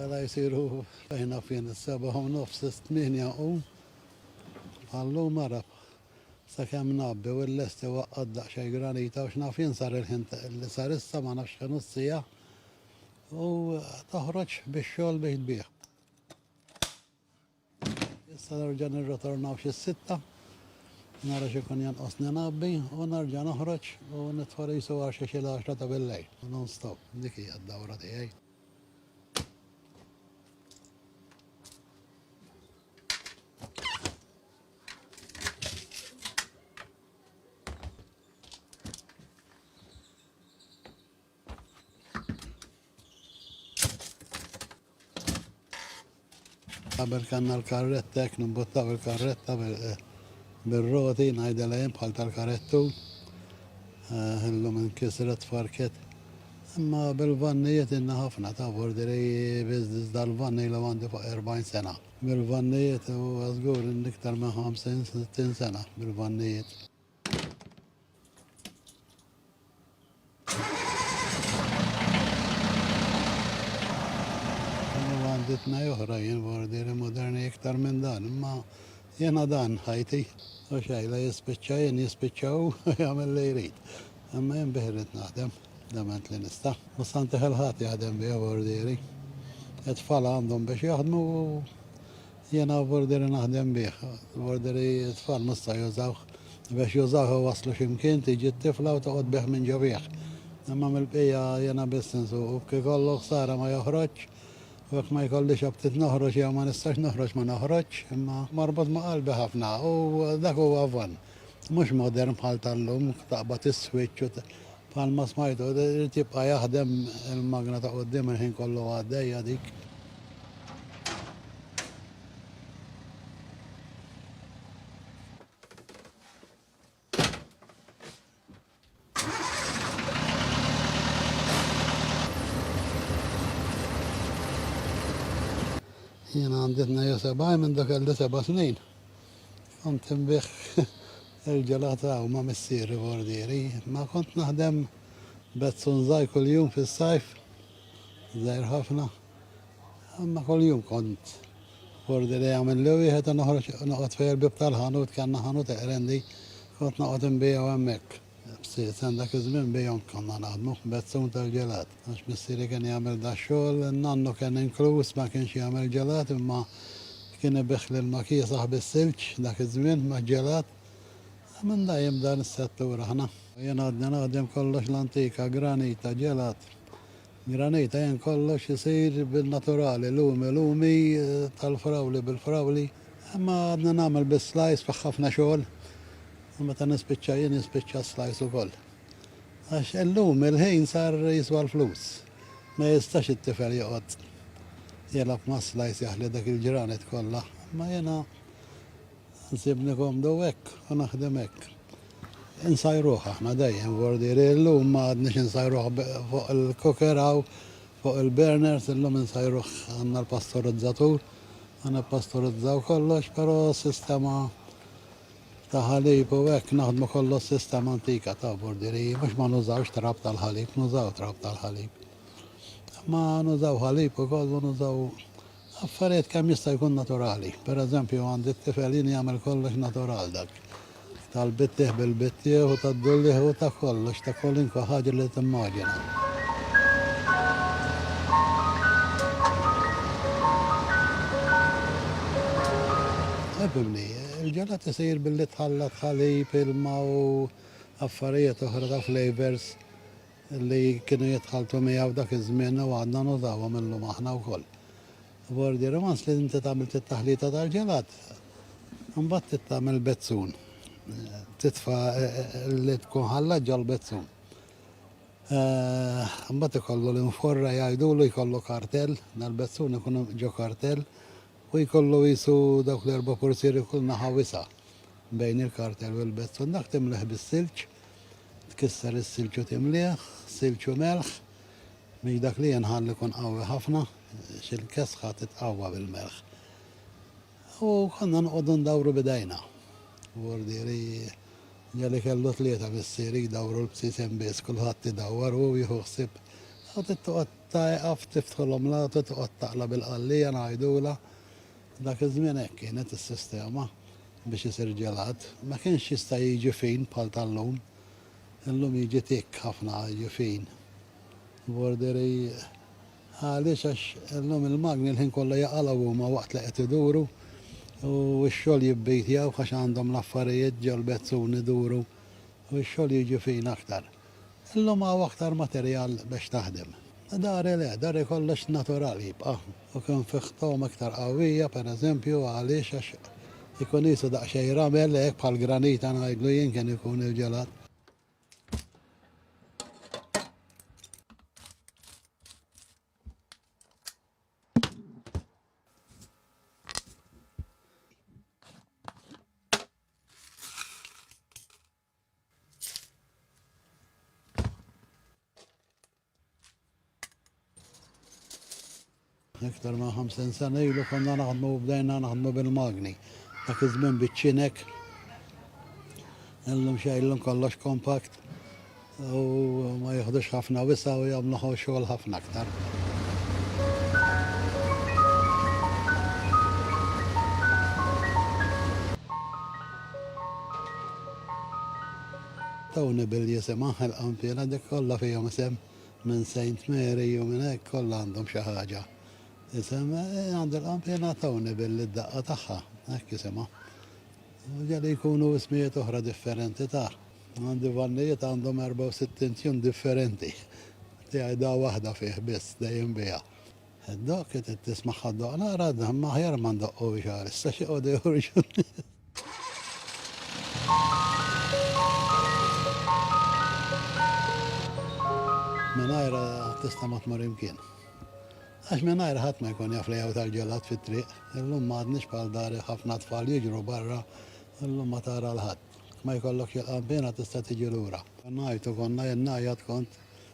Għala jisiru fejna fien s-seba u nofs s-tminja u għallu marab sa kem nabbi u l-lesti waqqad daqxaj granita u xnafin sar il-ħin li sar issa ma nafx kenu s-sija u toħroġ biex xol biex biex. Issa nerġa' nirritornaw xi sitta, nara x'ikun jonqos ningħabbi u nerġa' noħroġ u nitfa' risu għal xi xi l-għaxra ta' billejl, non stop. Dik hija d-dawra tiegħi. Qabel kanna l-karretta, ek nimbottaw il-karretta eh, bil-roti, najda lajem bħal tal-karettu. Eh, illum inkisret farket. Imma bil-vannijiet inna ħafna ta' borderi biznis dal-vanni li għandi fuq 40 sena. Bil-vannijiet u għazgur n-iktar minn 50-60 sena bil-vannijiet. għanditna joħra jien bordiri moderni iktar minn dan, imma jena dan ħajti, u xajla jispiċċa jien jispiċċaw jagħmel li jrid. Imma jien biħrit naħdem, dement li nista. U santi ħelħat jaħdem bih bordiri. Et fala għandhom biex jaħdmu Jiena u burderi naħdem bih. Burderi t-tfal mhux se jużawh. Biex jużawh iwasslu xi mkien, tiġi t-tifla u toqgħod bih minn ġobigħ. Imma mill-bqija jiena biss insuqu. B'kif ikollu ħsara ma joħroġx. U jekk ma jkollix aptit noħroġ jew ma nistax noħroġ ma noħroġx. Imma marbut ma' qalbi ħafna u dak huwa vann. Mhux modern bħal tal-lum, taqbad is-switch u. Bħalma smajtu, irid jibqa' jaħdem il-magna ta' quddiem il-ħin kollu għaddejja dik. Jiena għanditna jo sebaj minn dak għalli seba' snin. Kont inbih il-ġelata u ma' missieri bordieri, ma kont naħdem bezzun żgħir kuljum fis-sajf, żgħir ħafna. Imma kuljum kont bordieri għamil li wieħed u noħroġ noqgħod fejn il-bib tal-ħanut kellna ħanut eqrendi, kont noqgħod inbiegħu hemmhekk. Ftit sa dak iż-żmien bihom konna naħdmu f'bezzun tal-ġelat, għax missieri kien jagħmel dax-xogħol, nannu kien inkluż, ma kienx jagħmel ġelat imma kien ibigħ l-ilma kiesaħ bis-silġ dak iż-żmien maġ-ġelat. Minn da jiem f'dan is-settur aħna. Jien għadni naħdem kollox l-antika, granita, ġelat. Granita jien kollox isir bin-naturali lumi lumi tal-frawli bil-frawli imma għadni nagħmel bis-slice fih ħafna xogħol u meta nispiċċa jien jispiċċa s-slice ukoll għax illum il-ħin sar jiswa l-flus ma jistax it-tifel joqgħod jilgħab mas-slice jaħli dak il-granite kollha imma jiena nsibni komdu hekk u naħdem hekk. Insajruh aħna dejjem vordieri, illum ma għadniex insajruh fuq il-cooker hawn fuq il-burners, illum insajruh għandna l-pastorizzatur, ma nippastorizzaw kollox, però sistema ta' ħalib u hekk naħdmu kollox sistema antika ta' vordieriji, mhux ma nużawx trab tal-ħalib, nużaw trab tal-ħalib. Ma nużaw ħalib ukoll u nużaw Affarijiet kemm jista' jkun naturali. Per eżempju, għandi t-tifel jien jagħmel kollox natural dak tal-bittiegħ bil-bittiegħ u tad-dullieħ u ta' kollox, ta' kwalinkwe ħaġa li timmaġina. Ħbibni, il-ġelat isir billi tħallat ħalib, ilma u affarijiet oħra ta' flavours li kienu jitħalltu miegħu dak iż-żmien u għadna nużawhom illum aħna wkoll. Bordier, once li inti tagħmilt it-taħlita tal-ġelat, imbagħad trid tagħmel bezzun. Titfa' eh, eh, li tkun ħallat ġol-bezzun. Eh, imbagħad ikollu l-inforra jgħidulu jkollu kartell, dal-bezzun ikun ġo kartell u jkollu qisu dawk l-erba' portieri f'kull naħa wisa' bejn il-kartell u l-bezzun, dak timlih bis-silġ, tkisser is-silġ u timlih silġ u melħ biex dak li jinħall ikun qawwi ħafna għax il-kesħa titqawwa bil-melħ. U konna noqogħdu ndawru b'idejna. Bordieri ġieli kellu tlieta missieri jdawru l-bsisem biss, kulħadd idawwar u hu jieħu ħsieb. Ta' eqaf tiftħu l-omlata u toqgħod taqla' bil-qallija ngħidulha. Dak iż-żmien hekk kienet is-sistema biex isir ġelat. Ma kienx jista' jiġi fin bħal tal-lum. Illum jiġi tikk ħafna jiġi fin. Borderi, Għaliex għax illum il-magni l-ħin kollu jaqalgħu huma waqt li qed iduru u x-xogħol jibbitjaw għax għandhom l-affarijiet ġol-bezzun iduru u x-xogħol jiġi fin aktar. Illum hawn aktar materjal biex taħdem. Dari le, dari kollox natural jibqa' u kien fih togħma iktar qawwija, per eżempju, għaliex għax ikun qisu daqsxejn ramel hekk bħal granita ngħidlu jien kien ikun il-ġelat. Iktar ma' 50 sena ilu konna naħdmu bdejna naħdmu bil-magni. Dak iż-żmien biċ-ċinek. Illum xejlum kollox kompakt u ma jieħdux ħafna wisa u jagħmlu xogħol ħafna aktar. Dawn ibil jisimha il-qanpiena dik kollha fihom isem minn Saint Mary u minn hekk kollha għandhom xi ħaġa. Isem għand il-qanpiena Town ibil id-daqqa tagħha hekk isimha. U ġeli jkunu ismijiet oħra differenti ta'. Għandi vannijiet għandhom 64 tune differenti. Tiegħi da waħda fih biss dejjem biha. Ħaddoq, qed qed tisma' ħaddoq naqra, dan ma aħjar ma ndoqqux għal issa xi qogħdu joħorġu n-nies. Mingħajrha tista' ma tmur imkien. Għax mingħajr ħadd ma jkun jaf li jew tal-ġelat fit-triq, illum ma għadniex bħal dar ħafna tfal jiġru barra, illum ma tara l-ħadd. Ma jkollokx il-qampina tista' tiġi lura. Ngħajtu konna jien ngħajjat kont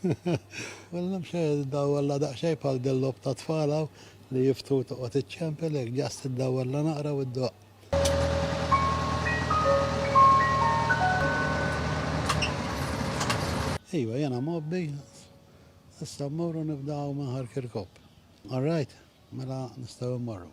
Mela nimx iddawwarla daqsxejn bħal dil-logħob tat-tfal hawn li jiftu u toqgħod iċċempel hekk, just iddawwarla naqra u ddoqq. Iva, jiena mgħobbi, issa mmorru nibdgħu minn Ħar Kirkop. All right, mela nistgħu mmorru.